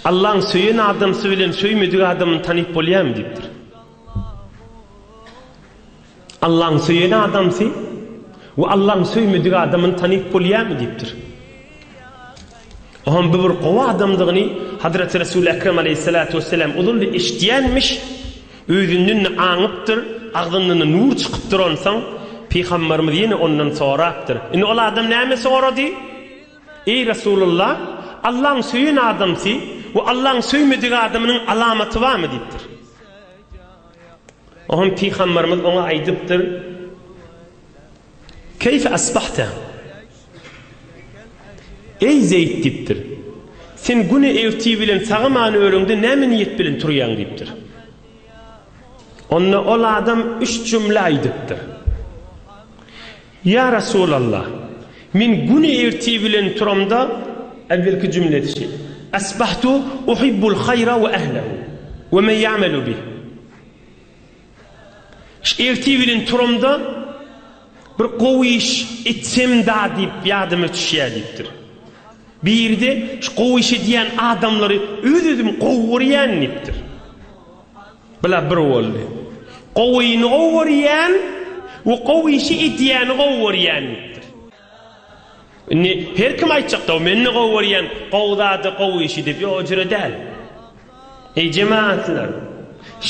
Allaň söýen adamsy bilen söýmedik adamyny tanyp bolýarmy diýipdir. Allaň söýen adamsy we Allaň söýmedik adamyny tanyp bolýarmy diýipdir. Ohan bu bir gowy adamdygyny Hazreti Resul Ekrem aleyhissalatu vesselam uzun bir eşitýänmiş. Özünden de aňypdyr, agzyndan nur çykypdyr onsoň Pygamberimiz ýene ondan sorapdyr. Indi ol adam näme sorady? Eý Resulalla, Allaň söýen adamsy we Allaň söýmedik adamynyň alamaty barmy? diýipdir. Oňa Pygambarymyz oňa aýdypdyr, Keýfe asbahte? Eý Zeýd diýipdir, Sen güne ertir bilen sagaman öreňde näme niýet bilen turýaň? diýipdir. Onda ol adam üç jümle aýdypdyr. Ýa Resulalla! Men güni ertir bilen turamda. Äwvelki jümle etişi. Asbahtu uhibbul haýra we ählehu we men ýa'melu bih. Ertir bilen turamda bir gowy iş etsemda diýip ýadyma düşýär diýipdir. Biri-de şu gowy iş edýän adamlary öz-özüm gowy görýän diýipdir. Bular bir boldy. Gowyny gowy görýän we gowy işi edýäni gowy görýän diýipdir. Indi her kim aýtjak-da, men-de gowy görýän gowy zady, gowy işi diýip. Ýok, o jüre däl. Eý, jemagatlar!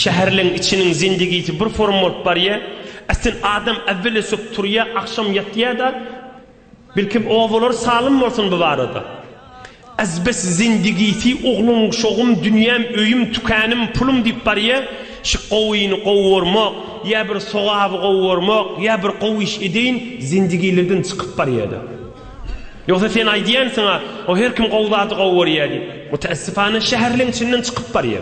Şäherleň içiniň zendigisi bir forma bolup barýar. Äsli adam äwweli sök turýar, agşam ýatýar-da, Belkem obalar salym bolsun bu barada. Azbes zindigisi ogluň şogum dünýäm öýüm tükänim pulum diýip barýa şi gowyny gowy gormok ýa bir sogaby gowy gormok ýa bir gowy iş edeýin zindigilerden çykyp barýada ýogsa sen aýdýansyňa o her kim gowy zady gowy görýä diýip mutaassifana şäherleň içinden çykyp barýa.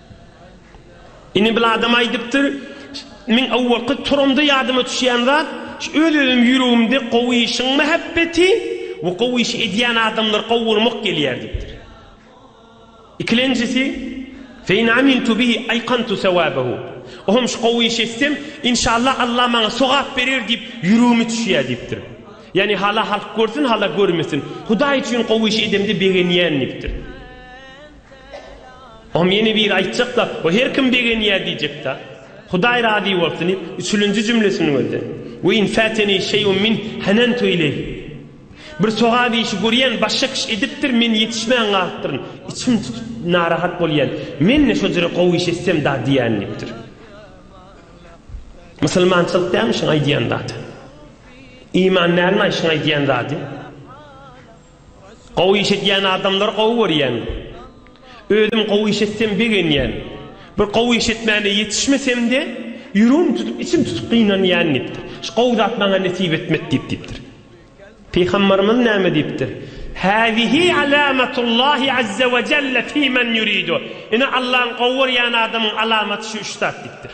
Ine bir adam aýdypdyr, Men awalky turamda ýadyma düşýän zat, şu öz-özüm ýüregimde gowy işiň mähebbeti we gowy işi edýän adamlary gowy görmek gelýär diýipdir. Ikilenjisi, Fe in amintu bihi aýkantu sewabehu, O hem şu gowy işi etsem, inşallah Allah maňa sogap berer diýip ýüregime düşýär diýipdir. Ýagny hala halk görsün, hala görmesin. Hudaý üçin gowy işi edemde begenýän diýipdir. Om ýene biri aýtjakda, o her kim begenýä diýjekda, Hudaý razy bolsun diýip, üçülinji jümlesiniň özde, Ve in fâteni şey'un minh hanentu ileyh. Bir sogap işi görýän, başga kişi edipdir, men ýetişmän galypdyryn, içim tutup, narahat bolýan, men-de şo jere gowy iş etsem da diýän diýipdir. Musulmançylyk dälmi şuň aýdýan zady? Iman dälmi-aý şuň aýdýan zady? Gowy iş edýän adamlary gowy görýän. Özüm gowy iş etsem begenýän. Bir gowy iş etmäne ýetişmesemde ýüregim tutup içim tutup gynanýan diýipdir. Şu gowy zat maňa nesip etmedi diýip diýipdir. Pygambarymyz näme diýipdir? Hâzihi alâmetullâhi azze ve celle fî men yuridu. Ine Allaň gowy görýän adamyň alamaty şu üç zat diýipdir.